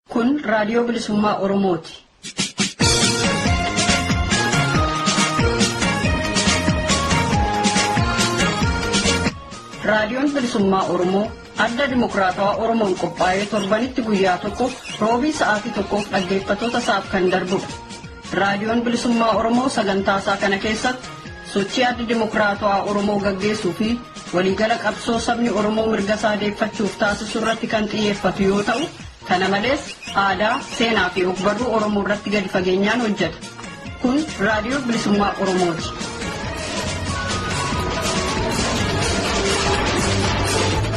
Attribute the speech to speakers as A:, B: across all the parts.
A: Kun Raadiyoo Bilisummaa Oromooti. Raadiyoon Bilisummaa Oromoo adda dimokiraatawaa Oromoon qophaa'ee torbanitti guyyaa tokko roobii sa'aatii tokkoof dhaggeeffattoota isaaf kan darbudha. Raadiyoon Bilisummaa Oromoo sagantaa isaa kana keessatti sochii adda dimokiraatawaa Oromoo gaggeessuu fi waliigala qabsoo sabni Oromoo mirga isaa deeffachuuf taasisu irratti kan xiyyeeffatu yoo ta'u Kana malees aadaa, seenaa fi ogbarruu Oromoo irratti gadi fageenyaan hojjeta. Kun Raadiyoo Bilisummaa Oromooti.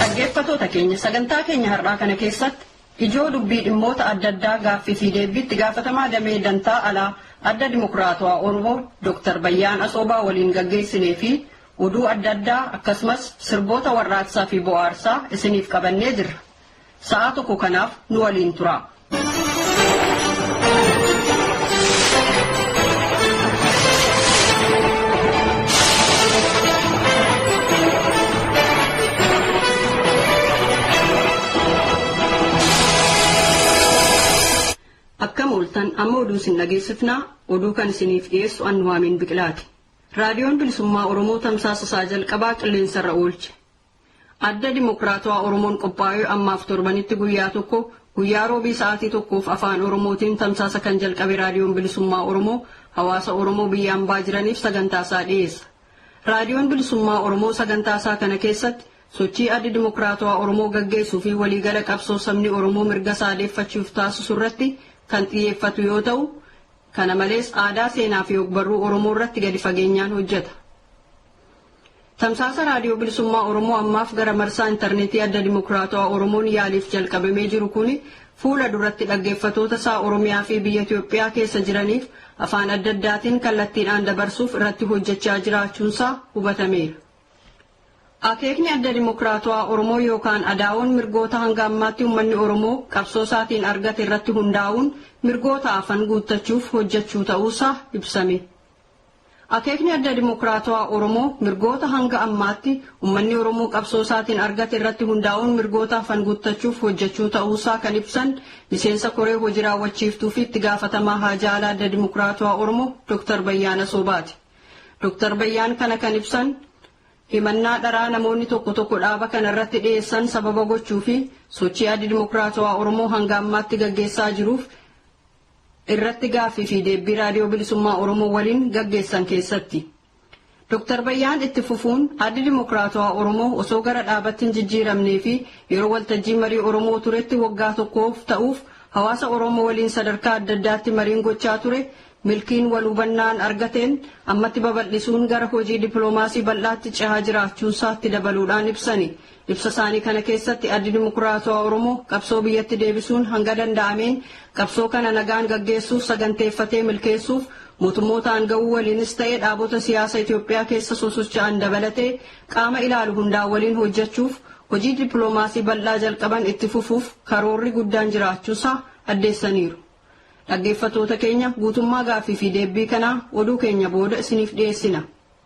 A: Dhaggeeffatoota keenya sagantaa keenya har'aa kana keessatti ijoo dubbii dhimmoota adda addaa gaaffii fi deebiitti gaafatamaa damee dantaa alaa adda dimokiraatawaa Oromoo Dr. Bayyaan Asoobaa waliin gaggeessinee fi oduu adda addaa akkasumas sirboota warraaqsaa fi bohaarsaa isiniif qabannee jirra. Sa'aa tokko kanaaf nu waliin turaa. Akkam ooltan amma oduu isin dhageessifnaa oduu kan isiniif dhiyeessu Annuwaamiin Biqilaati. Raadiyoon Bilisummaa Oromoo tamsaasa isaa jalqabaa qilleensarra oolche. Adda Dimokiraatawaa Oromoon qophaa'ee ammaaf torbanitti guyyaa tokko guyyaa Roobii sa'aatii tokkoof Afaan Oromootiin tamsaasa kan jalqabe Raadiyoon Bilisummaa Oromoo hawaasa Oromoo biyya ambaa jiraniif sagantaasaa dhiyeessa. Raadiyoon Bilisummaa Oromoo sagantaasaa kana keessatti sochii Addi Dimokiraatawaa Oromoo gaggeessuu fi waliigala qabsoo sabni Oromoo mirga isaa deeffachuuf taasisu irratti kan xiyyeeffatu yoo ta'u, kana malees aadaa, seenaa fi ogbarruu Oromoo irratti gadi fageenyaan hojjeta. Tamsaasa Raadiyoo Bilisummaa Oromoo ammaaf gara marsaa intarneetii Adda Dimokiraatawaa Oromoon yaaliif jalqabamee jiru kuni fuula duratti dhaggeeffatoota isaa Oromiyaa fi biyya Itoophiyaa keessa jiraniif afaan adda addaatiin kallattiidhaan dabarsuuf irratti hojjechaa jiraachuunsaa hubatameera. Akeekni Adda Dimokiraatawaa Oromoo yookaan adaawoon mirgoota hanga ammaatti uummanni Oromoo qabsoo isaatiin argate irratti hundaa'uun mirgoota hafan guuttachuuf hojjechuu ta'uusaa ibsame. Akeekni Adda Dimokiraatawaa Oromoo mirgoota hanga ammaatti ummanni Oromoo qabsoo isaatiin argate irratti hundaa'uun mirgoota hafan guuttachuuf hojjechuu ta'uusaa kan ibsan miseensa koree hoji raawwachiiftuu fi itti gaafatamaa haajaa alaa Adda Dimokiraatawaa Oromoo Dr. Bayyaana Soobaati. Dr. Bayyaan kana kan ibsan himannaa dharaa namoonni tokko tokko dhaaba kana irratti dhiyeessan sababa gochuu fi sochii Addi Dimokiraatawaa Oromoo hanga ammaatti gaggeessaa jiruuf irratti gaaffii fi deebbii Raadiyoo Bilisummaa Oromoo waliin gaggeessan keessatti. Dr. Bayyaan itti fufuun Addi Dimokiraatawaa Oromoo osoo gara dhaabatti hin jijjiiramnee fi yeroo waltajjii marii Oromoo turetti waggaa tokkoof ta'uuf hawaasa Oromoo waliin sadarkaa adda addaatti mariin gochaa ture milkiin wal hubannaan argateen ammatti babal'isuun gara hojii dippiloomaasii bal'aatti cehaa jiraachuun isaatti dabaluudhaan ibsani. Ibsa isaanii kana keessatti Addi Dimokiraatawaa Oromoo qabsoo biyyatti deebisuun hanga danda'ameen qabsoo kana nagaan gaggeessuuf saganteeffatee milkeessuuf mootummoota aanga'uu waliinis ta'e dhaabota siyaasa Itoophiyaa keessa sosocha'an dabalatee qaama ilaalu hundaa waliin hojjechuuf hojii dippiloomaasii bal'aa jalqaban itti fufuuf karoorri guddaan jiraachuusaa addeessaniiru. Dhaggeeffatoota keenya guutummaa gaaffii fi deebbii kanaa oduu keenya booda isiniif dhiyeessina.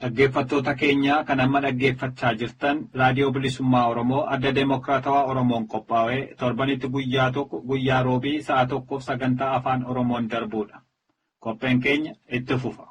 B: Dhaggeeffattoota keenya kan amma dhaggeeffachaa jirtan Raadiyoo Bilisummaa Oromoo adda Demookiraatawaa Oromoon qophaa'ee torbanitti guyyaa tokko guyyaa roobii sa'a tokkoof sagantaa afaan Oromoon darbuudha. Qopheen keenya itti fufa.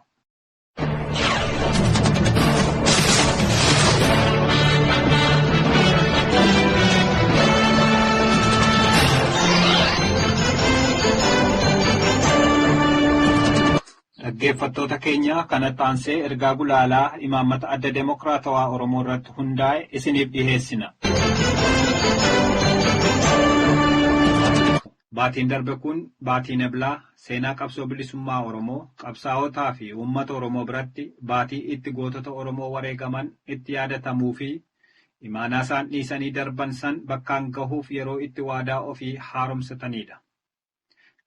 B: Dhaggeeffattoota keenya kanatti aansee ergaa gulaalaa imaammata adda demokraatawaa Oromoo irratti hundaa'e isiniif dhiheessina. Baatiin darbe kun baatiin Eblaa seenaa qabsoo bilisummaa Oromoo, qabsaa'otaa fi uummata Oromoo biratti baatii itti gootota Oromoo wareegaman itti yaadatamuu fi imaanaa isaan dhiisanii darban san bakkaan gahuuf yeroo itti waadaa ofii haaromsatanii dha.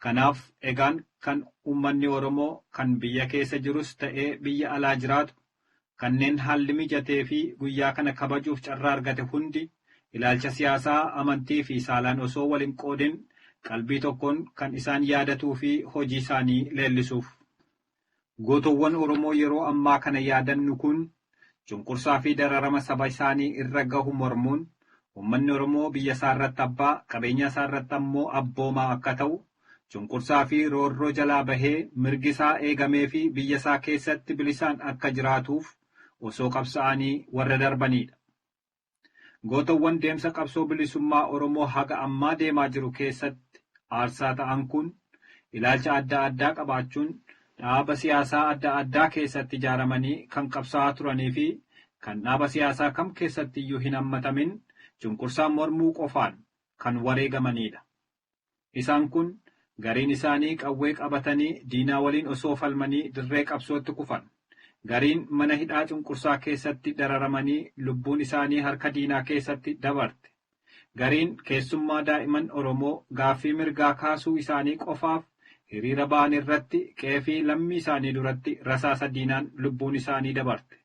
B: Kanaaf egaan kan uummanni Oromoo kan biyya keessa jirus ta'ee biyya alaa jiraatu Kanneen haalli mijatee fi guyyaa kana kabajuuf carraa argate hundi ilaalcha siyaasaa, amantii fi saalaan osoo wal hin qoodin qalbii tokkoon kan isaan yaadatuu fi hojii isaanii leellisuuf. Gootowwan Oromoo yeroo ammaa kana yaadannu kun cunqursaa fi dararama saba isaanii irra gahu mormuun ummanni Oromoo biyya isaa irratti abbaa, qabeenyaa isaa irratti ammoo abboomaa akka ta'u, Cunqursaa fi roorroo jalaa bahee mirgi isaa eegamee fi biyya isaa keessatti bilisaan akka jiraatuuf osoo qabsa'aanii warra darbanii dha. Gootowwan deemsa qabsoo bilisummaa Oromoo haga ammaa deemaa jiru keessatti aarsaa ta'an kun ilaalcha adda addaa qabaachuun dhaaba siyaasaa adda addaa keessatti ijaaramanii kan qabsa'aa turanii fi kan dhaaba siyaasaa kam keessatti iyyuu hin hammatamin cunqursaan mormuu qofaan kan wareegamanii dha. Isaan kun gariin isaanii qawwee qabatanii diinaa waliin osoo falmanii dirree qabsootti kufan. Gariin mana hidhaa cunqursaa keessatti dararamanii lubbuun isaanii harka diinaa keessatti dabarte. Gariin keessummaa daa'iman Oromoo gaaffii mirgaa kaasuu isaanii qofaaf hiriira bahan irratti qe'ee fi lammii isaanii duratti rasaasa diinaan lubbuun isaanii dabarte.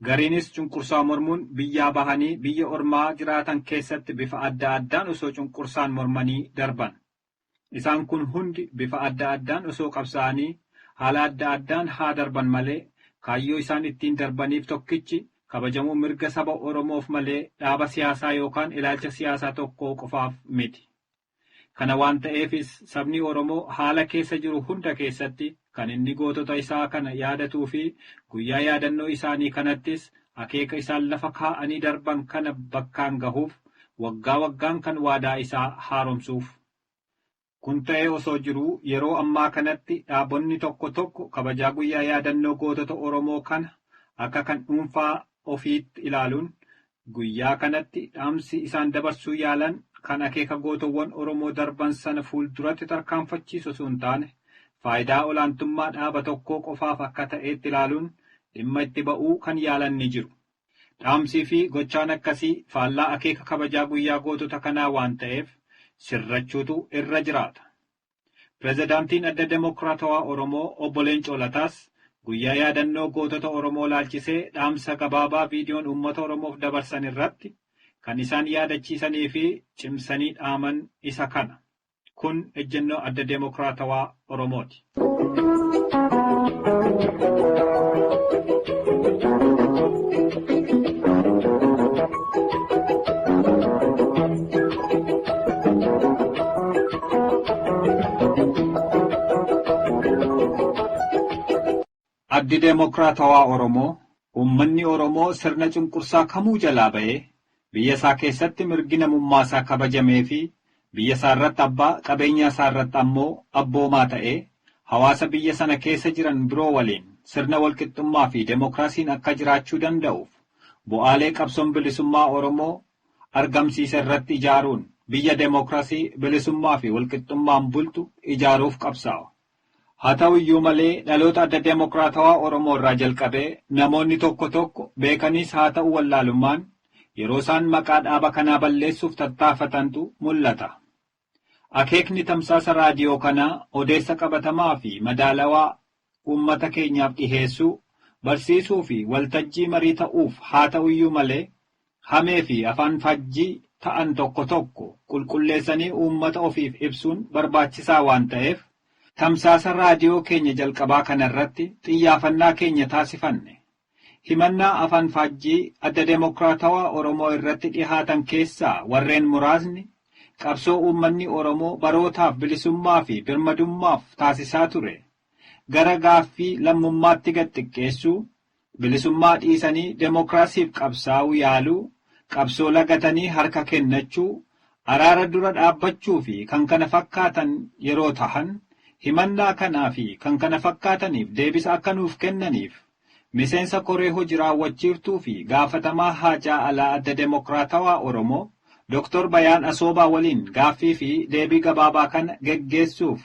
B: Gariinis cunqursaa mormuun biyyaa bahanii biyya ormaa jiraatan keessatti bifa adda addaan osoo cunqursaan mormanii darban. Isaan kun hundi bifa adda addaan osoo qabsaa'anii haala adda addaan haa darban malee kaayyoo isaan ittiin darbaniif tokkichi kabajamuu mirga saba Oromoof malee dhaaba siyaasaa yookaan ilaalcha siyaasaa tokkoo qofaaf miti. Kana waan ta'eefis sabni Oromoo haala keessa jiru hunda keessatti kan inni gootota isaa kana yaadatuu fi guyyaa yaadannoo isaanii kanattis akeeka isaan lafa kaa'anii darban kana bakkaan gahuuf waggaa waggaan kan waadaa isaa haaromsuuf. Kun ta'ee osoo jiruu yeroo ammaa kanatti dhaabonni tokko tokko kabajaa guyyaa yaadannoo gootota Oromoo kana akka kan dhuunfaa ofiitti ilaaluun Guyyaa kanatti dhaamsi isaan dabarsuu yaalan kan akeeka gootowwan Oromoo darban sana fuulduratti tarkaanfachiisu osoo hin taane, faayidaa olaantummaa dhaaba tokkoo qofaaf akka ta'eetti ilaaluun dhimma itti ba'uu kan yaalan ni jiru. Dhaamsii fi gochaan akkasii faallaa akeeka kabajaa guyyaa gootota kanaa waan ta'eef sirrachuutu irra jiraata. Pirezidaantiin Adda Demokraatawaa Oromoo Obbo Leencoo Lataas guyyaa yaadannoo gootota Oromoo ilaalchisee dhaamsa gabaabaa viidiyoon uummata Oromoof dabarsan irratti kan isaan yaadachiisanii fi cimsanii dhaaman isa kana. Kun ejjennoo Adda Demokraatawaa Oromooti. Addi Demookiraatawaa Oromoo uummanni Oromoo sirna cunqursaa kamuu jalaa ba'ee biyya isaa keessatti mirgi namummaa isaa kabajamee fi biyya isaa irratti abbaa qabeenyaa isaa irratti ammoo abboomaa ta'ee hawaasa biyya sana keessa jiran biroo waliin sirna walqixxummaa fi demookiraasiin akka jiraachuu danda'uuf bu'aalee qabsoon bilisummaa Oromoo argamsiise irratti ijaaruun biyya demokrasii, bilisummaa fi walqixxummaan bultu ijaaruuf qabsaawa. Haa ta'u iyyuu malee dhaloota Adda Demokraatawaa Oromoo irraa jalqabee namoonni tokko tokko beekaniis haa ta'u wallaalummaan yeroo isaan maqaa dhaaba kanaa balleessuuf tattaafatantu mul'ata. Akeekni tamsaasa raadiyoo kanaa odeessa qabatamaa fi madaalawaa uummata keenyaaf dhiheessuu, barsiisuu fi waltajjii marii ta'uuf haata'uyyuu malee hamee fi afaan faajjii ta'an tokko tokko qulqulleessanii uummata ofiif ibsuun barbaachisaa waan ta'eef tamsaasa raadiyoo keenya jalqabaa kanarratti xiyyaafannaa keenya taasifanne Himannaa afanfaajjii Adda Demokraatawaa Oromoo irratti dhihaatan keessaa warreen muraasni, qabsoo uummanni Oromoo barootaaf bilisummaa fi birmadummaaf taasisaa ture gara gaaffii lammummaatti gad xiqqeessuu, bilisummaa dhiisanii demokraasiif qabsaa'uu yaaluu, qabsoo lagatanii harka kennachuu, araara dura dhaabbachuu fi kkf yeroo tahan, himannaa kanaa fi kkf deebisa akka nuuf kennaniif Miseensa Koree Hoji Raawwachiiftuu fi Gaafatamaa Haajaa Alaa Adda Demokraatawaa Oromoo Dr. Bayaan Asoobaa waliin gaaffii fi deebii gabaabaa kana geggeessuuf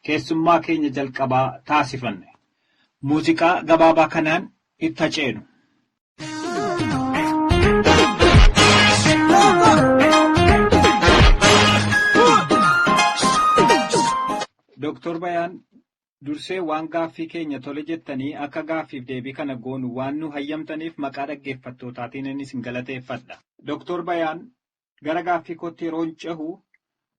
B: keessummaa keenya jalqabaa taasifanne. Muuziqaa gabaabaa kanaan itti ha ceenu. Dr. Bayaan Dursee waan gaaffii keenya tole jettanii akka gaaffiif deebii kana goonu waan nu hayyamtaniif maqaa dhaggeeffattootaatiin isin galateeffadha. Doktor Bayaan, Gara gaaffii kootti yeroon cehu,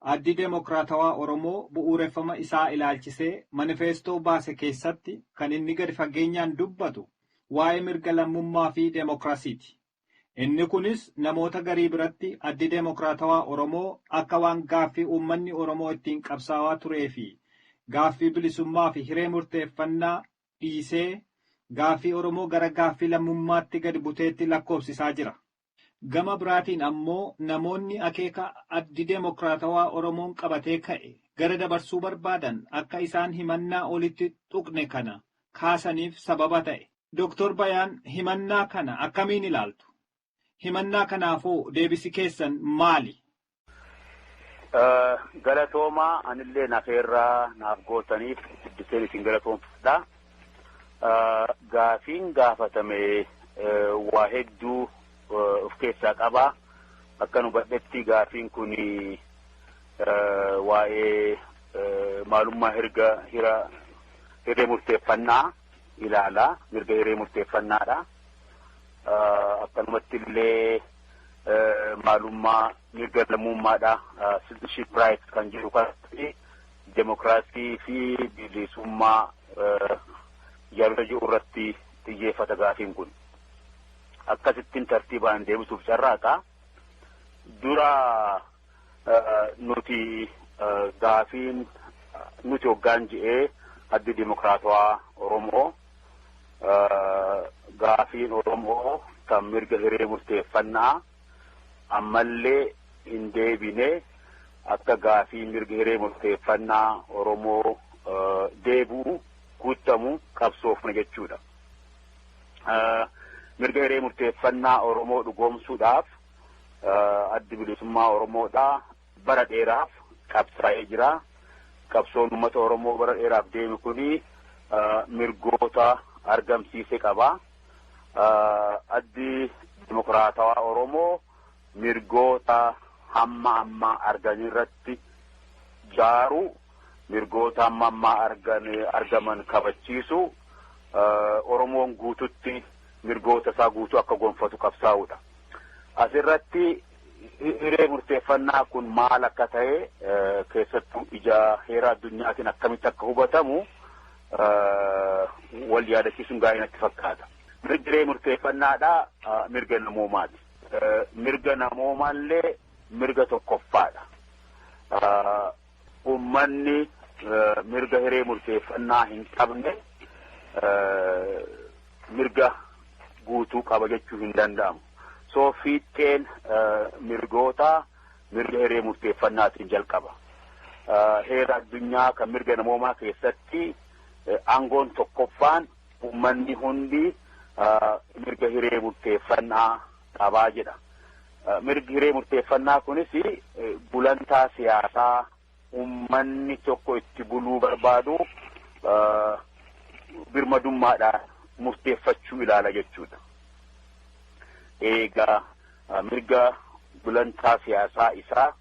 B: Addi Demokraatawaa Oromoo bu'uureffama isaa ilaalchisee manifeestoo baase keessatti kan inni gadi fageenyaan dubbatu waa'ee mirga lammummaa fi demokrasiiti. Inni kunis namoota garii biratti Addi Demokraatawaa Oromoo akka waan gaaffii uummanni Oromoo ittiin qabsaawaa turee fi gaaffii bilisummaa fi hiree murteeffannaa dhiisee gaaffii Oromoo gara gaaffii lammummaatti gadi buteetti lakkoofsisaa jira. Gama biraatiin ammoo namoonni akeeka Addi Demokraatawaa Oromoon qabatee ka'e gara dabarsuu barbaadan akka isaan himannaa olitti tuqne kana kaasaniif sababa ta'e. Doktor Bayaan himannaa kana akkamiin ilaaltu? Himannaa kanaafoo deebisi keessan maali?
C: Galatoomaa anillee nafeerraa naaf gootaniif guddiseen isin galatoomfadha. Gaafiin gaafatame waa hedduu of keessaa qaba. Akkan hubadhetti gaafiin kun waa'ee maalummaa hirga hira hirree murteeffannaa. ilaala. Mirga hiree murteeffannaadha. Akkanumatti illee maalummaa mirga lammummaadha. Citizenship rights kan jedhu kanatti demokraasii fi bilisummaa yaadota jiru irratti xiyyeeffata gaafiin kun. Akkasittiin tartiibaan deebisuuf carraaqa. Dura nuti gaafiin nuti hoggaan je'ee addi dimokiraatawaa Oromoo gaafiin Oromoo kan mirga hiree murteeffannaa ammallee hin deebine akka gaafii mirga hiree murteeffannaa Oromoo deebi'u guuttamu qabsoofna jechuudha. Mirga hiree murteeffannaa Oromoo dhugoomsuudhaaf addi bilisummaa Oromoodhaa bara dheeraaf qabsaa'ee jira. Qabsoon uummata Oromoo bara dheeraaf deeme kuni mirgoota argamsiise qaba. Addi Dimokiraatawaa Oromoo mirgoota hamma ammaa argan irratti jaaru mirgoota hamma ammaa argan argaman kabachiisu Oromoon guututti mirgoota isaa guutuu akka gonfatu qabsaa'udha. Asirratti hiree murteeffannaa kun maal akka ta'e keessattuu ija heera addunyaatiin akkamitti akka hubatamu wal yaadachiisuun gaarii natti fakkaata. Mirgi hiree murteeffannaadha mirga namoomaati. Mirga namoomaallee mirga tokkoffaadha. ummanni mirga hiree murteeffannaa hin qabne mirga guutuu qaba jechuu hin danda'amu. So fiixxeen mirgootaa mirga hiree murteeffannaatiin jalqaba. Heera addunyaa kan mirga namoomaa keessatti aangoon tokkoffaan ummanni hundi mirga hiree murteeffannaa qaba jedha. Mirgi hiree murteeffannaa kunis gulantaa siyaasaa ummanni tokko itti buluu barbaadu birmadummaadhaan murteeffachuu ilaala jechuudha. Eegaa mirga gulantaa siyaasaa isaa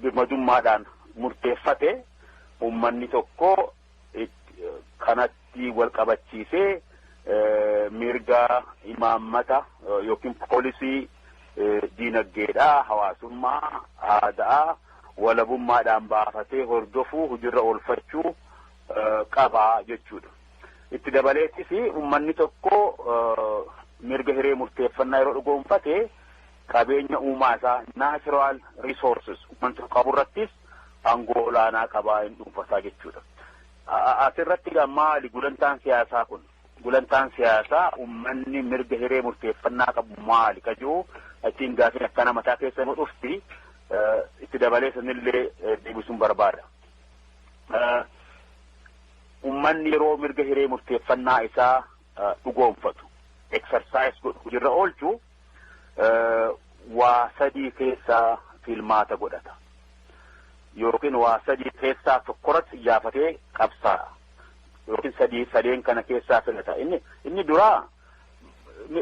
C: birmadummaadhaan murteeffate ummanni tokko kanatti Ittiin wal qabachiisee mirga imaammata yookiin poolisii diinagdeedhaa, hawaasummaa, aada'aa walabummaadhaan baafatee hordofuu hujirra oolfachuu qaba jechuudha. Itti dabaleetis ummanni tokko mirga hiree murteeffannaa yeroo dhugoomfate qabeenya uumaa isaa natural resources ummanni tokko qabu irrattis aangoo olaanaa qabaa hin dhuunfataa jechuudha. As irratti egaa maali gulantaan siyaasaa kun? Gulantaan siyaasaa ummanni mirga hiree murteeffannaa qabu maali ka jiru achiin gaafiin akkana mataa keessa nu dhufti itti dabalee sanillee deebisuun barbaada. Ummanni yeroo mirga hiree murteeffannaa isaa dhugoomfatu, exercise godhu, hojiirra oolchu waa sadii keessaa filmaata godhata. Yookiin waa sadii keessaa tokkorratti iyyaafatee qabsaa'a. Yookiin sadii sadeen kana keessaa filata. Inni inni duraa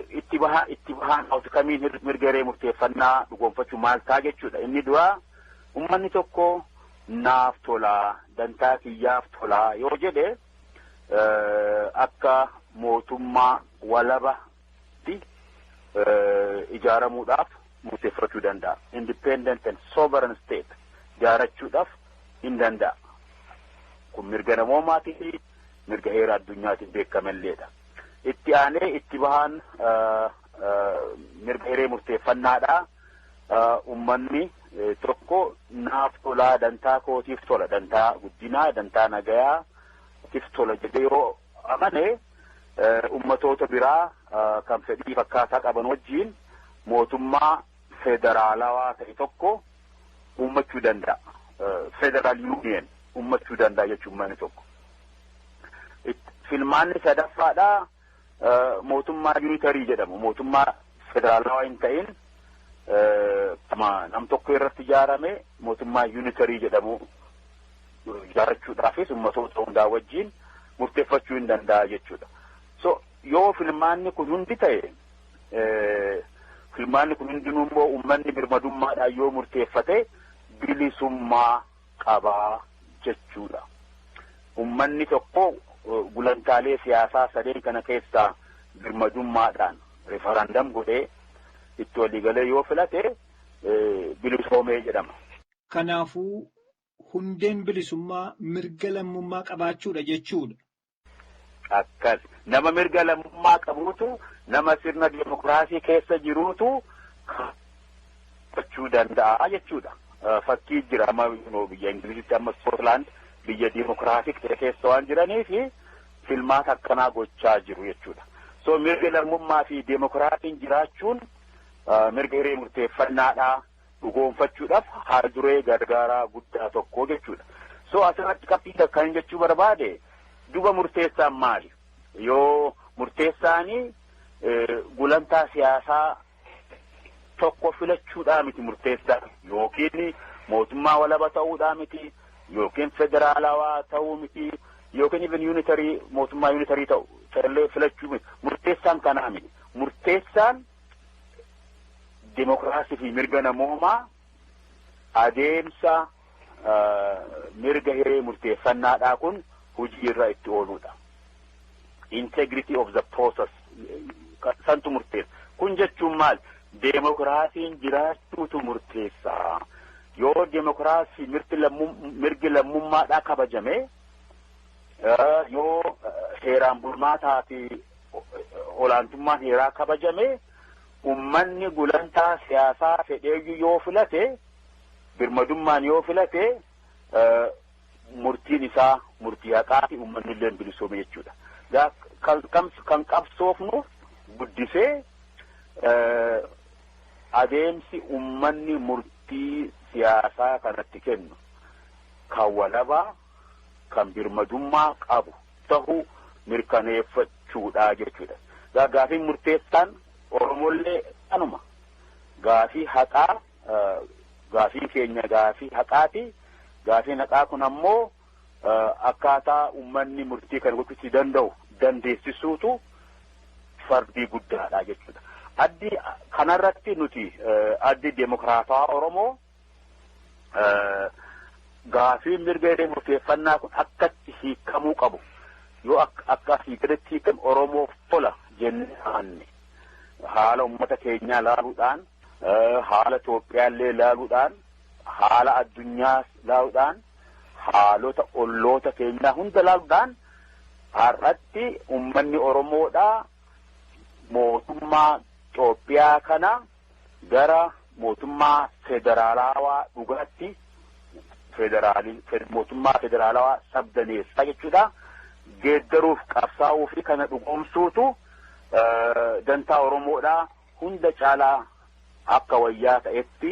C: itti bahaa itti bahaan outcomiin mirga hiree murteeffannaa dhugoonfachuu maal ta'a jechuudha. Inni duraa ummanni tokko naaf tolaa dantaa kiyyaaf tolaa yoo jedhe akka mootummaa walaba ijaaramuudhaaf murteeffachuu danda'a. Independent and sovereign state ijaarachuudhaaf hin danda'a. Kun mirga namoomaatii fi mirga heera addunyaatiin beekamalleedha. Itti aanee itti bahaan mirga hiree murteeffannaadhaa ummanni tokko naaf tolaa dantaa kootiif tola dantaa guddinaa dantaa nagayaa tiif tola jedhee yoo amane ummatoota biraa kan fedhii fakkaataa qaban wajjiin mootummaa federaalawaa ta'e tokko uummachuu danda'a. Federal Union uummachuu danda'a jechuun manni tokko. Filmaanni sadaffaadhaa mootummaa yuunitarii jedhamu mootummaa federaalawaa hin ta'in nama nam tokko irratti ijaarame mootummaa yuunitarii jedhamu ijaarrachuudhaafis ummatoota hundaa wajjin murteeffachuu hin danda'a jechuudha. So yoo filmaanni kun hundi ta'e filmaanni kun hundinuu immoo uummanni birmadummaadhaan yoo murteeffate bilisummaa qabaa jechuudha. Uummanni tokko gulantaalee siyaasaa sadeen kana keessaa birmadummaadhaan rifarandam godhee itti waliigalee yoo filate bilisoomee jedhama. Kanaafuu
B: hundeen bilisummaa mirga lammummaa qabaachuudha jechuudha.
C: Akkas. Nama mirga lammummaa qabuutu nama sirna dimokiraasii keessa jiruutu gochuu danda'a jechuudha. Fakkii jira amma biyya Ingilizitti amma Iskootlaand biyya dimokiraasik ta'e keessa waan jiraniif filmaata akkanaa gochaa jiru jechuudha. So mirga lammummaa fi dimokiraasiin jiraachuun mirga hiree murteeffannaadha. dhugoomfachuudhaaf haal duree gargaaraa guddaa tokko jechuudha. So asirratti qabxii takka hin jechuu barbaade duba murteessaan maali? Yoo murteessaanii gulantaa siyaasaa tokko filachuudhaa miti murteessaa yookiin mootummaa walaba ta'uudhaa miti yookiin federaalawaa ta'uu miti yookiin even yuunitarii mootummaa yuunitarii ta'u ta'ellee filachuu miti murteessaan kanaa miti murteessaan Dimookiraasii fi mirga namoomaa adeemsa mirga hiree murteeffannaadhaa kun hojii irra itti ooluudha. Integrity of the process santu murteessa. Kun jechuun maal? Deemokiraasiin jiraachuutu murteessa. Yoo deemokiraasii mirgi lammummaadhaa kabajame yoo heeraan bulmaataa fi olaantummaan heeraa kabajame ummanni gulantaa siyaasaa fedheeyyuu yoo filate birmadummaan yoo filate murtiin isaa murtii haqaa fi ummanni illee bilisoome jechuudha. Kan qabsoofnu guddisee adeemsi ummanni murtii siyaasaa kanatti kennu kan walabaa kan birmadummaa qabu tahuu mirkaneeffachuudha jechuudha. Egaa gaafiin murteessaan Oromollee kanuma. Gaafii haqaa gaafiin keenya gaafii haqaati. Gaafiin haqaa kun ammoo akkaataa uummanni murtii kana gochuu itti danda'u dandeessisuutu fardii guddaadha jechuudha. Addi kanarratti nuti addi deemokiraatawaa Oromoo gaafiin mirga hiree murteeffannaa kun akkatti hiikamuu qabu yoo akka asii gaditti hiikame Oromoof tola jennee amanne haala uummata keenyaa laaluudhaan haala Itoophiyaallee laaluudhaan haala addunyaa laaluudhaan haalota olloota keenyaa hunda laaluudhaan har'atti uummanni Oromoodhaa mootummaa Itoophiyaa kana gara mootummaa federaalaawaa dhugaatti mootummaa federaalawaa sabdaneessaa jechuudha geeddaruuf qabsaa'uu fi kana dhugoomsuutu dantaa Oromoodhaa hunda caalaa akka wayyaa ta'etti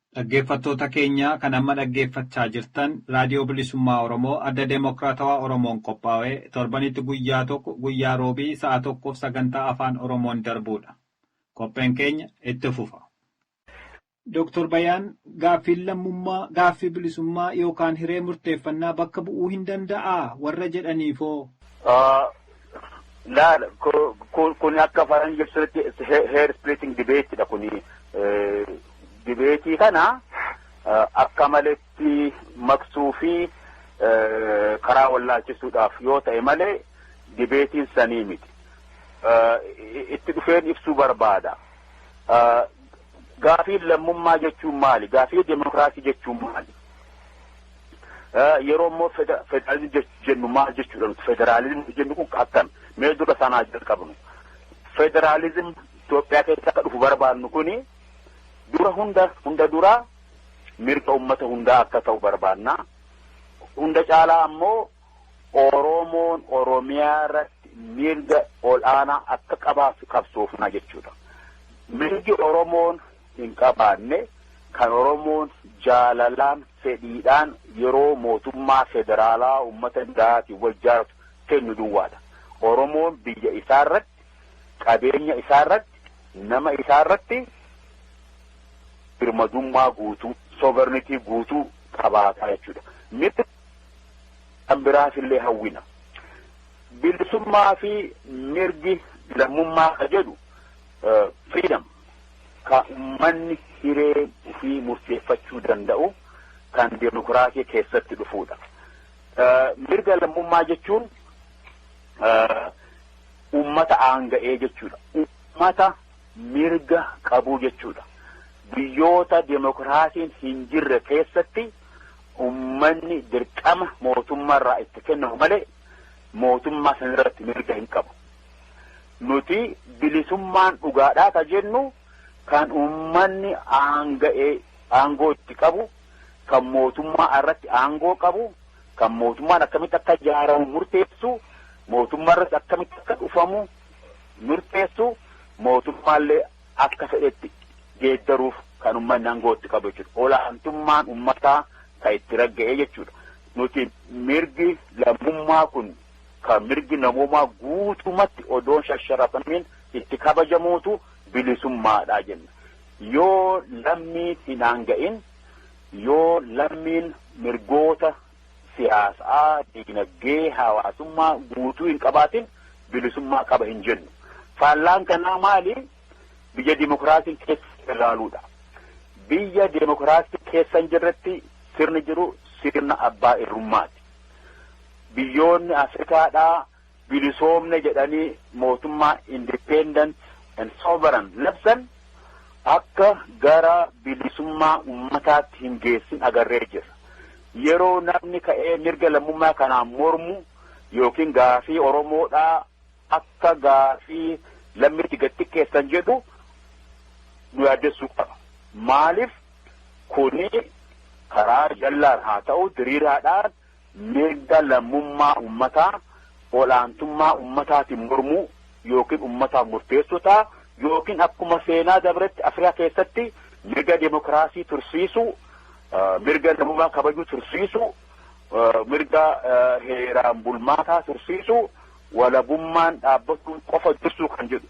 B: Dhaggeeffattoota keenya kan amma dhaggeeffachaa jirtan Raadiyoo Bilisummaa Oromoo Adda Demokraatawaa Oromoon qophaawe torbanitti guyyaa tokko guyyaa Roobii sa'a tokkoof sagantaa Afaan Oromoon darbuudha. Qopheen keenya itti fufa. Doktor Bayaan gaaffiin lammummaa gaaffii bilisummaa yookaan hiree murteeffannaa bakka bu'uu hin danda'aa warra jedhaniifoo? Laal
C: kun akka faranji ibsanitti heer splitting debate dha kuni dibeetii kana akka maletti maqsuu fi karaa wallaalchisuudhaaf yoo ta'e malee dibeetiin sanii miti. Itti dhufeen ibsuu barbaada. Gaafiin lammummaa jechuun maali? Gaafii demokraasii jechuun maali? Yeroo immoo federaalizimii jennu maal jechuudha nuti federaalizimii jennu kun akkam mee dura sanaa jalqabnu. Federaalizim Itoophiyaa keessa akka dhufu barbaadnu kuni dura hunda hunda dura mirga uummata hundaa akka ta'u barbaadna. Hunda caalaa ammoo Oromoon Oromiyaa irratti mirga ol'aanaa akka qabaatu qabsoofna jechuudha. Mirgi Oromoon hin qabaanne, kan Oromoon jaalalaan, fedhiidhaan yeroo mootummaa federaalaa uummata biraatiin wal jaaratu kennu duwwaa dha. Oromoon biyya isaa irratti, qabeenya isaa irratti, nama isaa irratti birmadummaa guutuu, sovereignty, guutuu qabaata jechuu dha. Mirga kan biraas illee hawwina. Bilisummaa fi mirgi lammummaa kan jedhu freedom. ka ummanni hiree ufii murteeffachuu danda'u kan demokraasii keessatti dhufuudha. Mirga lammummaa jechuun ummata aanga'ee jechuudha. Ummata mirga qabuu jechuudha. Biyyoota demokraasiin hin jirre keessatti ummanni dirqama mootummaarraa itti kennamu malee mootummaa sanarratti mirga hin qabu. Nuti bilisummaan dhugaadhaa ka jennu kan ummanni aanga'ee aangoo itti qabu, kan mootummaa irratti aangoo qabu, kan mootummaan akkamitti akka ijaaramu murteessu, mootummaa irratti akkamitti akka dhufamu murteessu, mootummaallee akka fedhetti geeddaruuf kan ummanni aangoo itti qabu jechuudha. Olaantummaan ummataa kan itti ragga'ee jechuudha. Nuti mirgi lammummaa kun ka mirgi namoomaa guutumatti odoo hin shasharafamiin itti kabajamuutu bilisummaadha jenna. Yoo lammii hin aanga'in, yoo lammiin mirgoota siyaasaa, diinagdee, hawaasummaa guutuu hin qabaatin bilisummaa qaba hin jennu. Faallaan kanaa maali? Biyya dimokiraasiin keessa ilaaluudha. Biyya dimokiraasiin keessa hin jirretti sirni jiru sirna abbaa irrummaati. Biyyoonni Afrikaadhaa bilisoomne jedhanii mootummaa independent and sovereign labsan akka gara bilisummaa ummataatti hin geessin agarree jirra. Yeroo namni ka'ee mirga lammummaa kanaan mormu yookiin gaafii Oromoodhaa akka gaafii lammiitti gad xiqqeessan jedhu nu yaaddessuu qaba. Maaliif kuni karaa jallaan haa ta'u diriiraadhaan Mirga lammummaa ummataa ol'aantummaa ummataatiin mormuu ykn ummataaf murteessuu ta'a ykn akkuma seenaa dabretti Afrikaa keessatti mirga demokraasii tursiisuu, mirga namummaa kabajuu tursiisuu, mirga heeraan bulmaataa tursiisuu, walabummaan dhaabbachuun qofa dursuu kan jedhu.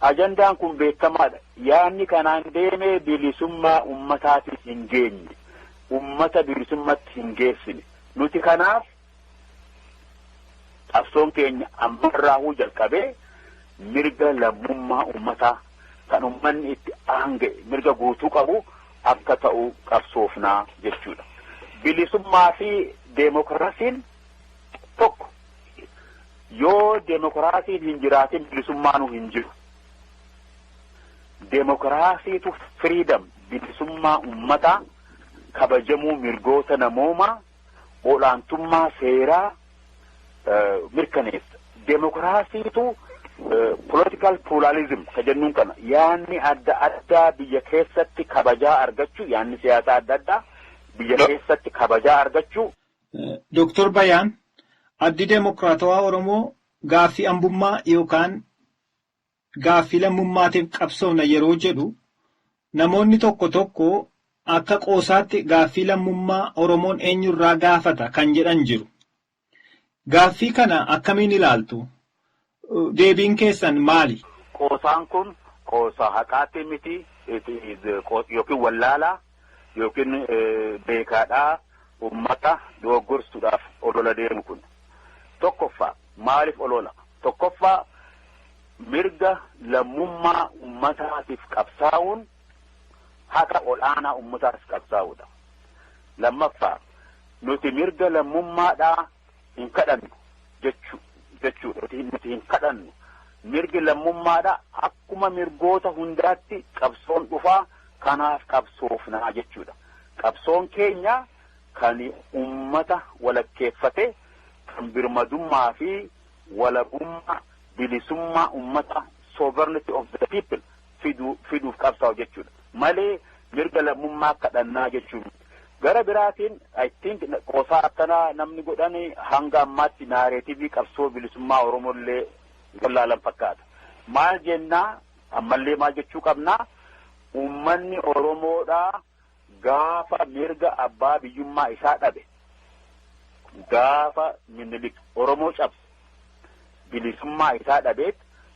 C: Ajandaan kun beekamaadha. Yaadni kanaan deemee bilisummaa ummataatiif hin geenye. ummata bilisummatti hin geessine. Nuti kanaaf qabsoon keenya ammarraahuu jalqabee mirga lammummaa ummataa kan ummanni itti aanga'e mirga guutuu qabu akka ta'u qabsoofnaa jechuudha. Bilisummaa fi deemokiraasiin tokko. Yoo deemokiraasiin hin jiraatin bilisummaanu hin jiru. Demokiraasiitu freedom bilisummaa ummataa, kabajamuu mirgoota namoomaa, ol'aantummaa seeraa mirkaneessa. Demokiraasiitu political pluralism ka jennuun kana yaanni adda addaa biyya keessatti kabajaa argachuu yaanni siyaasaa adda addaa biyya keessatti kabajaa argachuu. Doktor
B: Bayaan, Addi Demokiraatawaa Oromoo gaaffii ambummaa yookaan gaaffii lammummaatiif qabsoofna yeroo jedhu namoonni tokko tokko akka qoosaatti gaaffii lammummaa Oromoon eenyurraa gaafata kan jedhan jiru. Gaaffii kana akkamiin ilaaltu? Deebiin keessan maali? Qoosaan kun
C: qoosaa haqaatii miti yookiin wallaalaa. yookiin beekaadhaa ummata dogoggorsuudhaaf olola deemu kun tokkoffaa maaliif olola tokkoffaa mirga lammummaa ummataatiif qabsaa'uun haqa ol'aanaa ummataatiif qabsaa'uudha lammaffaa nuti mirga lammummaadhaa hin kadhannu jechuu jechuudha. Nuti hin- nuti hin kadhannu. Mirgi lammummaadha. Akkuma mirgoota hundaatti qabsoon dhufaa kanaaf qabsoofnaa jechuudha. Qabsoon keenya kan ummata walakkeeffate kan birmadummaa fi walabummaa bilisummaa ummata sovereignty of the people fidu, fiduuf qabsaa'u jechuudha. Malee mirga lammummaa kadhannaa jechuu miti. Gara biraatiin I think qoosaa akkanaa namni godhan hanga ammaatti naareetivii qabsoo bilisummaa Oromollee wallaalan fakkaata. Maal jennaa ammallee maal jechuu qabnaa uummanni Oromoodhaa Gaafa mirga abbaa biyyummaa isaa dhabe, gaafa Minilik Oromoo cabse, bilisummaa isaa dhabeet,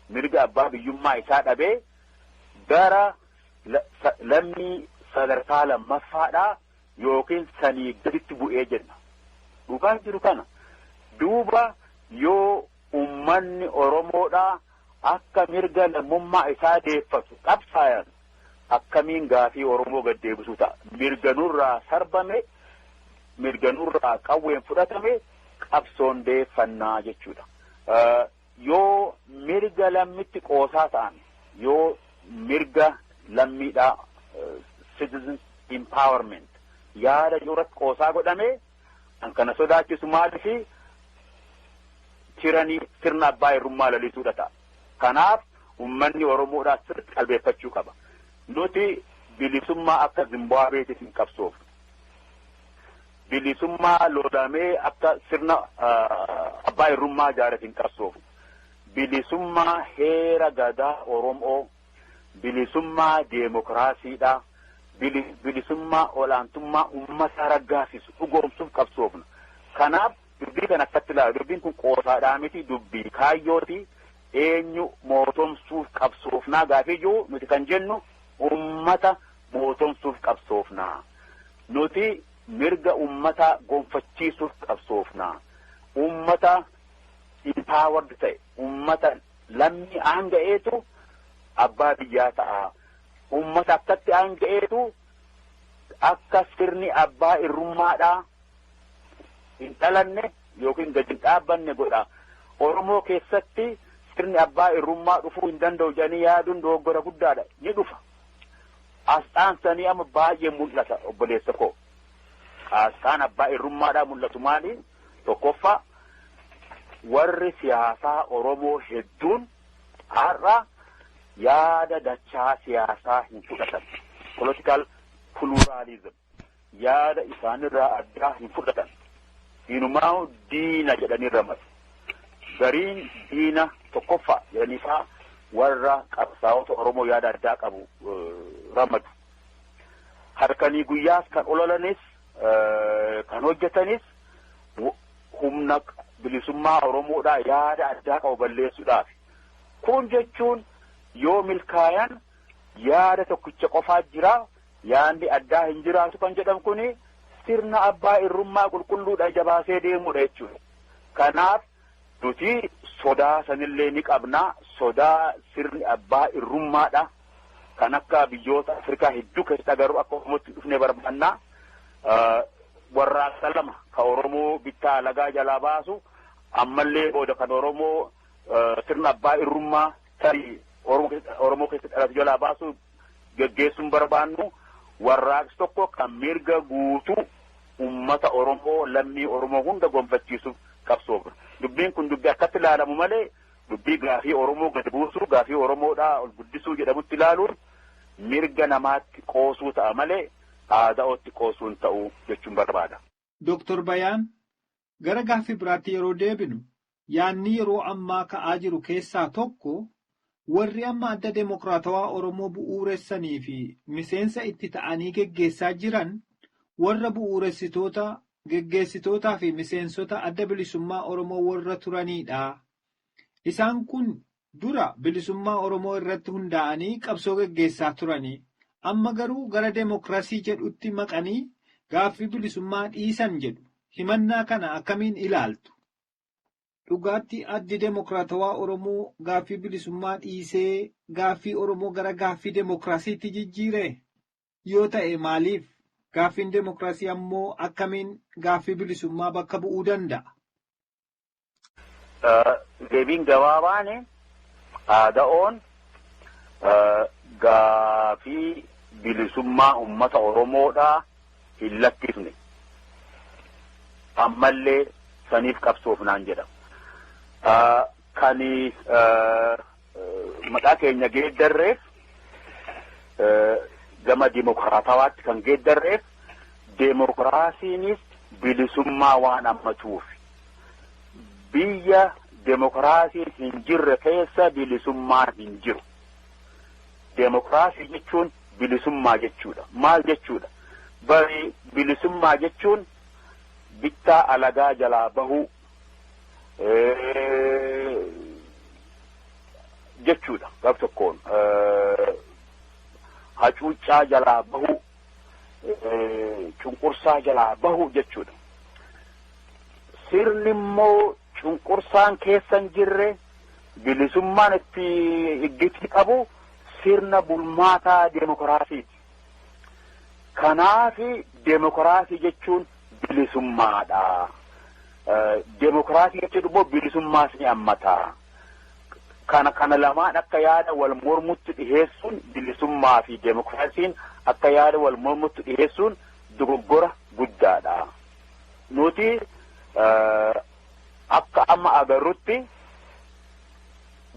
C: mirga abbaa biyyummaa isaa dhabee gara lammii sadarkaa lammaffaadhaa yookiin sanii gaditti bu'ee jenna. Dhugaan jiru kana. Duuba yoo ummanni Oromoodhaa akka mirga lammummaa isaa deeffatu qabsaayan akkamiin gaafii Oromoo gad deebisuu ta'a? Mirga nurraa sarbame, mirga nurraa qawween fudhatame qabsoon deeffannaa jechuudha. Yoo mirga lammitti qoosaa ta'an, yoo mirga lammiidhaa citizens empowerment yaada jiru irratti qoosaa godhame Kan kana sodaachisu maalifi? Tiranii, sirna abbaa irrummaa lalisuu dha ta'a. Kanaaf ummanni Oromoodhaa sirritti qalbeeffachuu qaba. Nuti bilisummaa akka Zimbaabeetiif hin qabsoofnu. Bilisummaa loolamee akka sirna abbaa irrummaa jaareef hin qabsoofnu. Bilisummaa heera gadaa Oromoo bilisummaa deemokiraasiidha, bilisummaa olaantummaa ummataa raggaasisu dhugoomsuuf qabsoofna. Kanaaf dubbii kana akkatti ilaalu dubbiin kun qoosaadhaa miti dubbii kaayyooti eenyu mootomsuuf qabsoofnaa gaafii jiru nuti kan jennu ummata mootomsuuf qabsoofnaa. Nuti mirga ummataa gonfachiisuuf qabsoofnaa. Ummata empowered ta'e, ummata Lammii aanga'eetu abbaa biyyaa ta'a. Uummata akkatti aanga'eetu akka sirni abbaa irrummaadhaa hin dhalanne yookiin gad hin dhaabbanne godha. Oromoo keessatti sirni abbaa irrummaa dhufuu hin danda'u jedhanii yaaduun dogoggora guddaadha. Ni dhufa. Asxaan sanii amma baay'ee mul'ata obboleessa koo. Asxaan abbaa irrummaadhaa mul'atu maali? Tokkoffaa, warri siyaasaa Oromoo hedduun har'a yaada dachaa siyaasaa hin fudhatan. Political pluralism. Yaada isaanirraa addaa hin fudhatan. Inumaa'u diina jedhanii ramadu. Gariin diina tokkoffaa jedhanii fa'aa warra qabsaa'ota Oromoo yaada addaa qabu ramadu. Halkanii guyyaas kan ololanis kan hojjetanis humna bilisummaa Oromoodhaa yaada addaa qabu balleessuudhaaf. Kun jechuun yoo milkaayan yaada tokkicha qofaa jira yaadni addaa hin jiraatu kan jedhan kuni sirna abbaa irrummaa qulqulluudha jabaasee deemuudha jechuudha. Kanaaf Nuti sodaa sanillee ni qabna. Sodaa sirni abbaa irrummaadha. Kan akka biyyoota Afrikaa hedduu keessatti agarru akka Oromootti hin dhufne barbaanna. Warraaqsa lama kan Oromoo bittaa alagaa jalaa baasu ammallee booda kan Oromoo sirna abbaa irrummaa tarii Oromoo keessatti dhalatu jalaa baasu geggeessuun barbaannu warraaqsi tokko kan mirga guutuu ummata Oromoo lammii Oromoo hunda gonfachiisuuf qabsoofna. Dubbiin kun dubbii akkatti ilaalamu malee dubbii gaafii Oromoo gad buusuu gaafii Oromoodhaa ol guddisuu jedhamutti ilaaluun mirga namaatti qoosuu ta'a malee ABOtti qoosuu hin ta'u jechuun barbaada. Doktor Bayaan,
B: Gara gaaffii biraatti yeroo deebinu, yaadni yeroo ammaa ka'aa jiru keessaa tokko warri amma Adda Demokraatawaa Oromoo bu'uuressanii fi miseensa itti ta'anii geggeessaa jiran warra bu'uuressitoota, geggeessitootaa fi miseensota Adda Bilisummaa Oromoo warra turaniidha. Isaan kun Dura bilisummaa Oromoo irratti hundaa'anii qabsoo geggeessaa turanii amma garuu gara demokrasii jedhutti maqanii gaaffii bilisummaa dhiisan jedhu. Himannaa kana akkamiin ilaaltu? Dhugaatti Addi Demokraatawaa Oromoo gaaffii bilisummaa dhiisee gaaffii Oromoo gara gaaffii demokrasiitti jijjiiree? Yoo ta'e maaliif? Gaaffiin demokrasii ammoo akkamiin gaaffii bilisummaa bakka bu'uu danda'a?
C: Deebiin gabaabaan aada'oon gaafii bilisummaa uummata Oromoodhaa hin lakkifne. Ammallee saniif qabsoofnaan jedha. Kan Maqaa keenya geeddarreef gama dimokiraatawaatti kan geeddarreef demokiraasiinis bilisummaa waan hammatuuf biyya demokiraasiin hin jirre keessa bilisummaan hin jiru. Demokiraasii jechuun bilisummaa jechuudha. Maal jechuudha? Bari bilisummaa jechuun bittaa alagaa jalaa bahuu jechuudha gab tokkoon hacuuccaa jalaa bahu cunqursaa jalaa bahu jechuudha sirni immoo cunqursaan keessa hin jirre bilisummaan itti iggiti qabu sirna bulmaataa deemokiraasiiti. Kanaafi demokraasii jechuun bilisummaadha. Demokraasii jechuun immoo bilisummaas ni hammata. Kana kana lamaan akka yaada wal mormutti dhiheessuun bilisummaa fi demokraasiin akka yaada wal mormutti dhiheessuun dogoggora guddaadha. Nuti akka amma agarrutti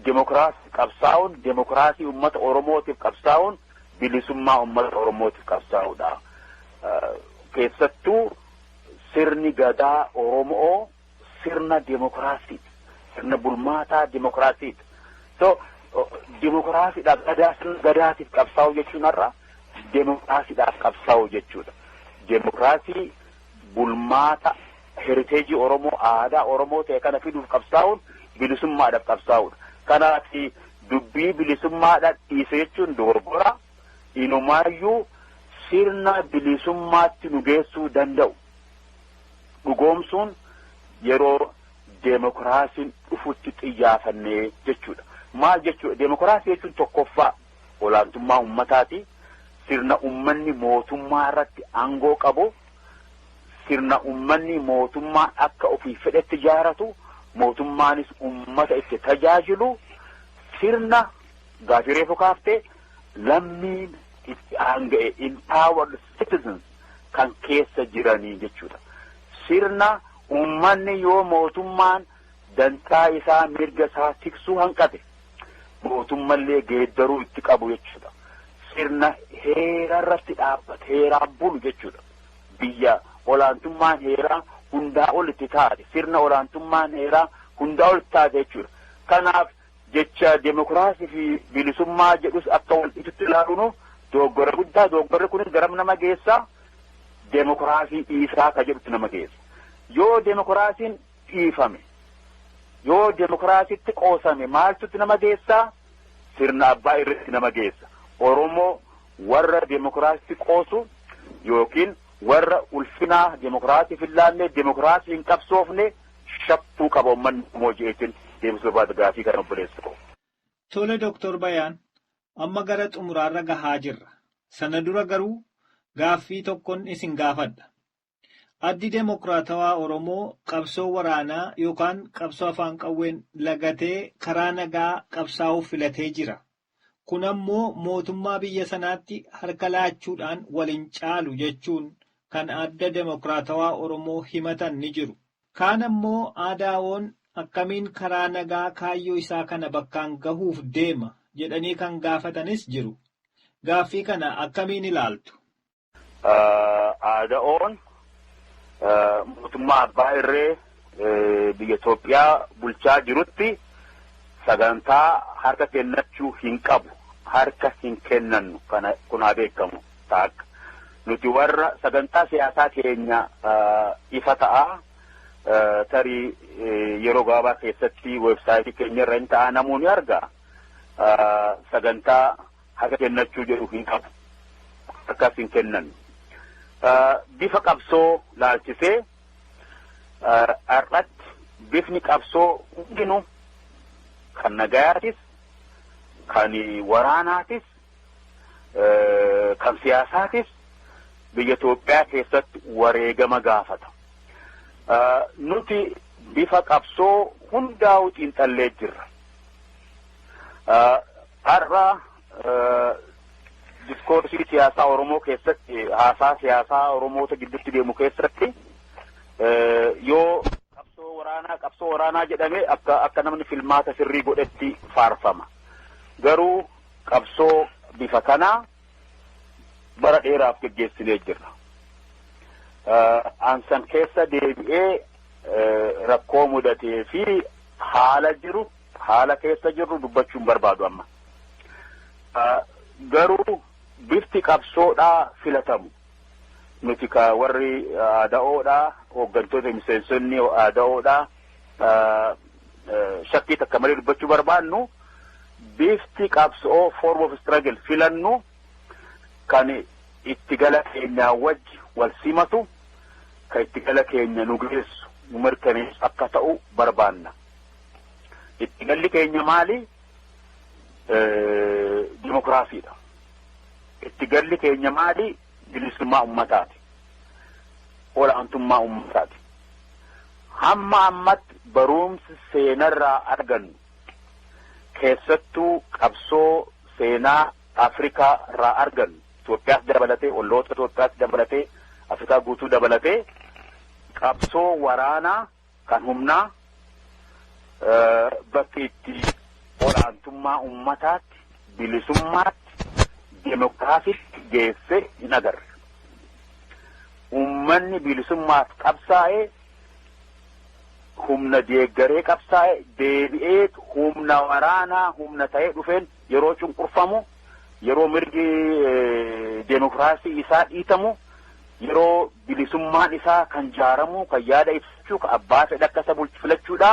C: demokraasii qabsaa'uun demokraasii uummata Oromootiif qabsaa'uun bilisummaa ummata Oromootiif qabsaa'udha. Keessattuu sirni gadaa Oromoo sirna demokiraasiiti. Sirna bulmaataa demokiraasiiti. So demokiraasiidhaaf gadaa sirna gadaatiif qabsaa'u jechuun har'a demokiraasiidhaaf qabsaa'u jechuudha. Demokiraasii bulmaata heriteejii Oromoo, aadaa Oromoo ta'e kana fiduuf qabsaa'uun bilisummaadhaaf qabsaa'uudha. Kanaaf dubbii bilisummaadhaan dhiise jechuun dogoggora. Inumaayyuu sirna bilisummaatti nu geessuu danda'u dhugoomsuun yeroo deemokiraasiin dhufutti xiyyaafannee jechuudha. Maal jechuudha? Deemokiraasii jechuun tokkoffaa olaantummaa ummataati. Sirna ummanni mootummaa irratti aangoo qabu, sirna ummanni mootummaa akka ofii fedhetti ijaaratu, mootummaanis ummata itti tajaajilu, sirna gaafii reefu kaaftee lammiin itti aanga'e empowered citizens kan keessa jiranii jechuudha. Sirna ummanni yoo mootummaan dantaa isaa mirga isaa tiksuu hanqate mootummallee geeddaruu itti qabu jechuudha. Sirna heera irratti dhaabbate heeraan bulu jechuudha. Biyya olaantummaan heeraa hundaa ol itti taate sirna olaantummaan heeraa hundaa ol itti taate jechuudha. Kanaaf jecha demokiraasii fi bilisummaa jedhus akka wal dhiitutti ilaaluun dogoggora guddaa dogoggorri kunis garam nama geessaa demokiraasii dhiisaa ka jedhutti nama geessa. Yoo demokiraasiin dhiifame. Yoo demokraasitti qoosame maaltutti nama geessa? Sirna abbaa irreetti nama geessa. Oromoo warra demokraasitti qoosu yookiin warra ulfinaa demokraasiif hin laanne, demokraasii hin qabsoofne shakkuu qaba ummanni Oromoo je'eetiin deebisuu barbaada gaafii kana obboleessa koo. Tole Doktor
B: Bayaan, amma gara xumuraarra gahaa jirra. Sana dura garuu gaaffii tokkon isin gaafadha. Addi Demokraatawaa Oromoo qabsoo waraanaa yookaan qabsoo afaan qawween lagatee karaa nagaa qabsaa'uu filatee jira. Kun ammoo mootummaa biyya sanaatti harka laachuudhaan wal hin caalu jechuun kan Adda Demokraatawaa Oromoo himatan ni jiru. Kaan ammoo ADWOn akkamiin karaa nagaa kaayyoo isaa kana bakkaan gahuuf deema jedhanii kan gaafatanis jiru. Gaaffii kana akkamiin ilaaltu?
C: Aada'oon mootummaa abbaa irree biyya Itoophiyaa bulchaa jirutti sagantaa harka kennachuu hin qabu. Harka hin kennannu kana kun haa beekamu taakka. Nuti warra sagantaa siyaasaa keenya ifa ta'a. Tarii yeroo gabaabaa keessatti weebsaayitii keenya irra hin ta'a namoonni arga. Sagantaa haqa kennachuu jedhu hin qabu. Akkas hin kennan. Bifa qabsoo laalchisee har'atti bifni qabsoo hundinuu kan nagayaatis kan waraanaatis kan siyaasaatis biyya Itoophiyaa keessatti wareegama gaafata. Nuti bifa qabsoo hundaa'uu xiinxallee jirra. Har'a diskoorsii siyaasaa Oromoo keessatti haasaa siyaasaa Oromoota gidduutti deemu keessatti yoo qabsoo waraanaa qabsoo waraanaa jedhame akka akka namni filmaata sirrii godhetti faarfama. Garuu qabsoo bifa kanaa bara dheeraaf geggeessinee jirra. Ansan keessa deebi'ee rakkoo mudatee fi haala jiru Haala keessa jirru dubbachuu hin barbaadu amma. Garuu bifti qabsoodhaa filatamu. Nuti ka warri aada'oodhaa hooggantoota miseensonni aada'oodhaa shakkii takka malee dubbachuu barbaannu bifti qabsoo form of struggle filannu kan itti gala keenyaa wajji wal simatu kan itti gala keenya nu geessu nu mirkaneessu akka ta'u barbaanna. Itti galli keenya maali? Dimokiraasiidha. Itti galli keenya maali? Bilisummaa ummataati. Olaantummaa ummataati. Hamma ammatti barumsi seenarraa argannu keessattuu qabsoo seenaa Afrikaa irraa argannu Itoophiyaas dabalatee olloota Itoophiyaas dabalatee Afrikaa guutuu dabalatee qabsoo waraanaa kan humnaa bakki itti olaantummaa ummataatti, bilisummaatti, demokraasitti geesse hin agarre. Ummanni bilisummaaf qabsaa'e humna deeggaree qabsaa'e deebi'ee humna waraanaa humna ta'ee dhufeen yeroo cunqurfamu Yeroo mirgi deemokiraasii isaa dhiitamu, yeroo bilisummaan isaa kan jaaramu, kan yaada ibsachuu, kan abbaa fedha akka isa bulchu filachuudha.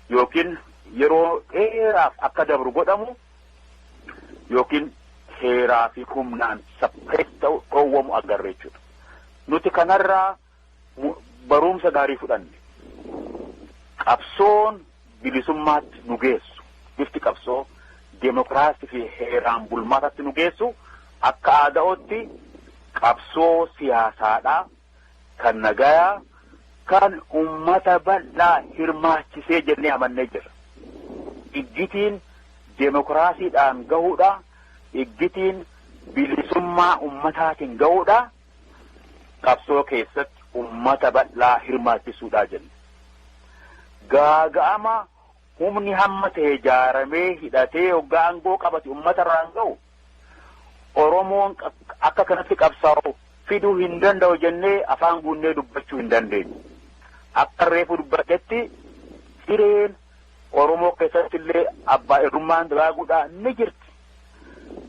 C: Yookiin yeroo dheeraaf akka dabru godhamu yookiin heeraa fi humnaan sappirees ta'u dhoowwamu agarra jechuudha. Nuti kanarraa Baruumsa gaarii fudhanne. Qabsoon bilisummaatti nu geessu, bifti qabsoo demokraasii fi heeraan bulmaatatti nu geessu akka aada'ootti qabsoo siyaasaadhaa kan nagayaa kan ummata bal'aa hirmaachisee jennee amannee jirra. Iggitiin demokraasiidhaan gahuudha, iggitiin bilisummaa ummataatiin gahuudha. qabsoo keessatti ummata bal'aa hirmaachisuudha jenna. Gaaga'ama humni hamma ta'e jaaramee hidhatee hoggaa aangoo qabate ummata irraan ga'u Oromoon akka kanatti qabsaa'u fiduu hin danda'u jennee afaan guunnee dubbachuu hin dandeenyu. Akka reefu dubbadhetti hireen Oromoo keessatti illee abbaa irrummaan dagaaguudhaan ni jirti.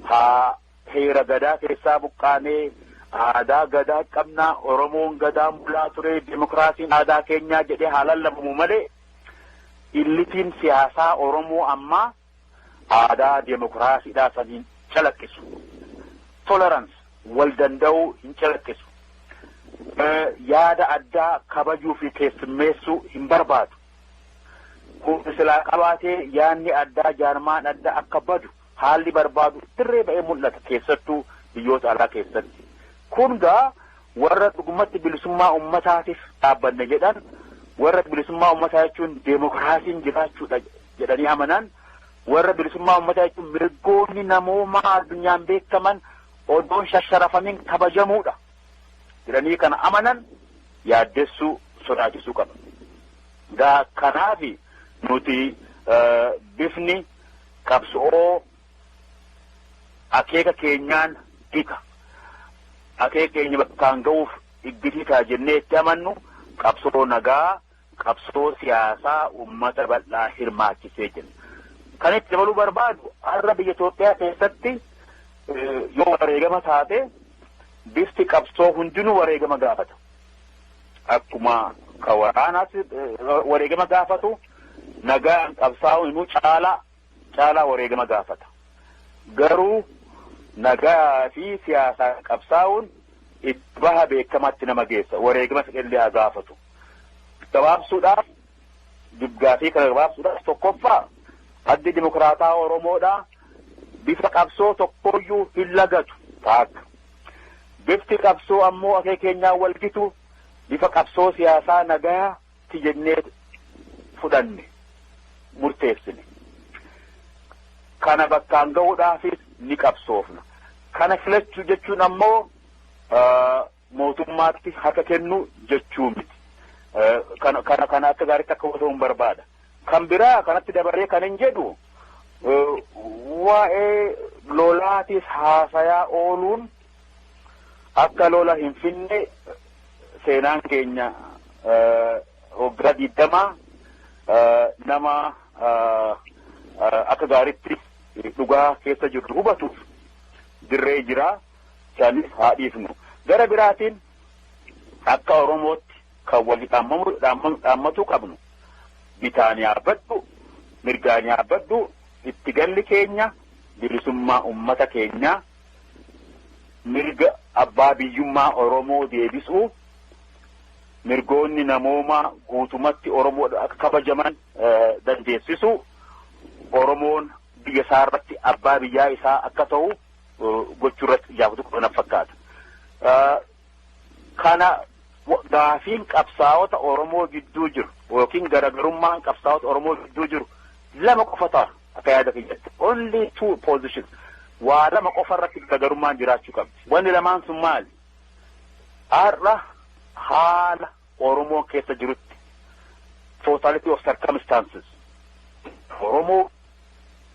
C: Haa Heera Gadaa keessaa buqqaanee aadaa Gadaa qabna, Oromoon Gadaan bulaa ture, demokraasiin aadaa keenyaa jedhee haa lallabamu malee illitiin siyaasaa Oromoo ammaa aadaa demokraasiidhaa san hin calaqqisu. Tolerance wal danda'uu hin calaqqisu. Yaada addaa kabajuu fi keessummeessuu hin barbaadu. Humna silaa qabaatee yaadni addaa jaarmaan adda akka badu haalli barbaadu dirree ba'ee mul'ata keessattuu biyyoota alaa keessatti. Kun gaa warra dhugumatti bilisummaa uummataatiif dhaabbanne jedhan warra bilisummaa uummataa jechuun deemokiraasiin jiraachuudha jedhanii amanan warra bilisummaa uummataa jechuun mirgoonni namoomaa addunyaan beekaman odoon shasharafamiin kabajamuudha jedhanii kana amanan yaaddessuu sodaachisuu qaba. Gaa kanaafi nuti bifni qabso'oo akeeka keenyaan gita akeeka keenya bakkaan ga'uuf iggitiitaa jennee itti amannu qabsoo nagaa qabsoo siyaasaa uummata bal'aa hirmaachisee jenna. Kan itti dabaluu barbaadu har'a biyya Itoophiyaa keessatti yoo wareegama taate bifti qabsoo hundinuu wareegama gaafata. Akkuma ka waraanaatti wareegama gaafatu nagaan qabsaa'uun immoo caalaa caalaa wareegama gaafata. Garuu nagaa fi siyaasaan qabsaa'uun itti baha beekamaatti nama geessa. Wareegama fedhellee haa gaafatu. Gabaabsuudhaaf dubgaafii kana gabaabsuudhaaf tokkoffaa addi dimokiraataa Oromoodhaa bifa qabsoo tokkooyyuu hin lagatu taakka. Bifti qabsoo ammoo akee keenyaa wal gitu bifa qabsoo siyaasaa nagayaa ti jennee fudhanne, murteessine. Kana bakkaan gahuudhaafis ni qabsoofna. Kana filachu jechuun ammoo mootummaatti harka kennu jechuu miti. Kana kana akka gaariitti akka hubatamu barbaada. Kan biraa kanatti dabaree kanin jedhu waa'ee lolaatis haasayaa ooluun akka lola hin finne seenaan keenya waggaa digdamaa nama akka gaaritti dhugaa keessa jirru hubatuuf dirree jiraa sanis haa dhiifnu. Gara biraatiin akka Oromootti Kan wali dhaammatuu qabnu bitaan yaabbadhu mirgaan yaabbadhu itti galli keenya bilisummaa ummata keenyaa mirga abbaa biyyummaa Oromoo deebisuu mirgoonni namoomaa guutumatti Oromoodha akka kabajaman dandeessisuu Oromoon biyya isaa irratti abbaa biyyaa isaa akka ta'u gochuu irratti ijaafatuu qabna fakkaata. Kana gaafiin qabsaa'ota Oromoo gidduu jiru yookiin garagarummaan qabsaa'ota Oromoo gidduu jiru lama qofa ta'a akka yaada kiyyatti. Only two positions. Waa lama qofa irratti garagarummaan jiraachuu qabdi. Wanni lamaan sun maali? Har'a haala Oromoon keessa jirutti totality of circumstances Oromoo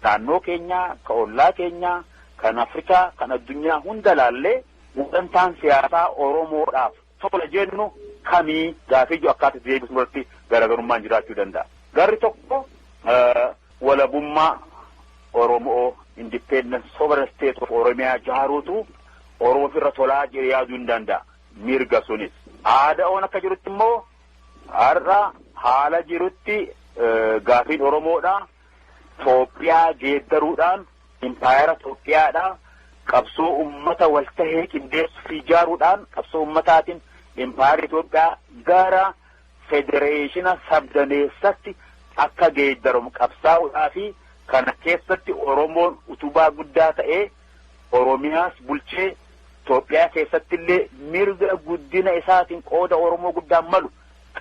C: naannoo keenyaa, ka ollaa keenyaa, kan Afrikaa, kan addunyaa hunda laallee Gulantaan siyaasaa Oromoodhaaf tola jennu kamii gaafii jedhu akkaataa itti deebisnu irratti garaagarummaan jiraachuu danda'a. Garri tokko walabummaa Oromoo independent sovereign state of Oromiyaa ijaaruutu Oromoof irra tolaa jedhee yaaduu hin danda'a. Mirga sunis. Aada'oon akka jirutti immoo har'a haala jirutti gaafiin Oromoodhaa Toophiyaa geeddaruudhaan impaayera Toophiyaadhaa qabsoo ummata wal tahee qindeessu fi ijaaruudhaan qabsoo ummataatiin impaayerri Toophiyaa gara federeeshina sabdaneessatti akka geeddaramu qabsaa'uudhaa fi kana keessatti Oromoon utubaa guddaa ta'ee Oromiyaas bulchee Toophiyaa keessatti illee mirga guddina isaatiin qooda Oromoo guddaan malu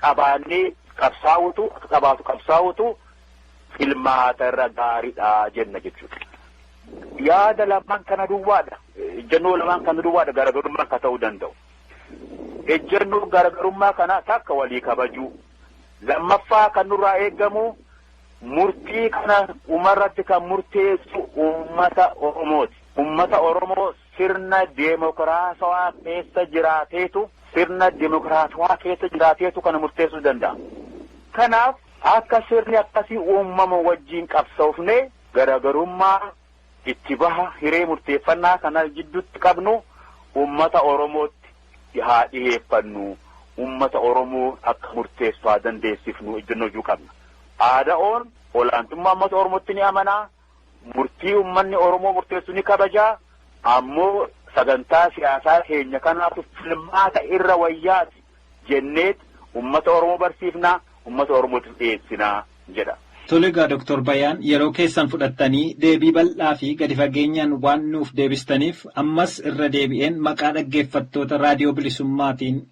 C: qabaannee qabsaa'utu akka qabaatu qabsaa'utu filmaata irra gaaridha jenna jechuudha. Yaada lamaan kana duwwaadha. Ejjennoo lamaan kana duwwaadha garagarummaa akka ta'uu danda'u. Ejjennoo garagarummaa kana takka walii kabajuu. Lammaffaa kan nurraa eegamu murtii kana dhumarratti kan murteessu uummata Oromooti. Uummata Oromoo Sirna deemokiraatawaa keessa jiraateetu, sirna deemokiraatawaa keessa jiraateetu kana murteessuu danda'a. Kanaaf akka sirni akkasii uumamu wajjin qabsoofnee garagarummaa itti baha hiree murteeffannaa kana jidduutti qabnu uummata Oromootti haa dhiheeffannu, uummata Oromoo akka murteessu haa dandeessifnu ejjennoo jedhu qabna. ADOn olaantummaa uummata Oromootti ni amana. murtii ummanni Oromoo murteessu ni kabaja, ammoo sagantaa siyaasaa keenya kanaatu filmaata irra wayyaati jenneet ummata Oromoo barsiifna, ummata Oromootiif dhiyeessina jedha. Tole egaa Doktor
B: Bayaan yeroo keessan fudhattanii deebii bal'aa fi gadi fageenyaan waan nuuf deebistaniif ammas irra deebi'een maqaa dhaggeeffattoota Raadiyoo Bilisummaatiin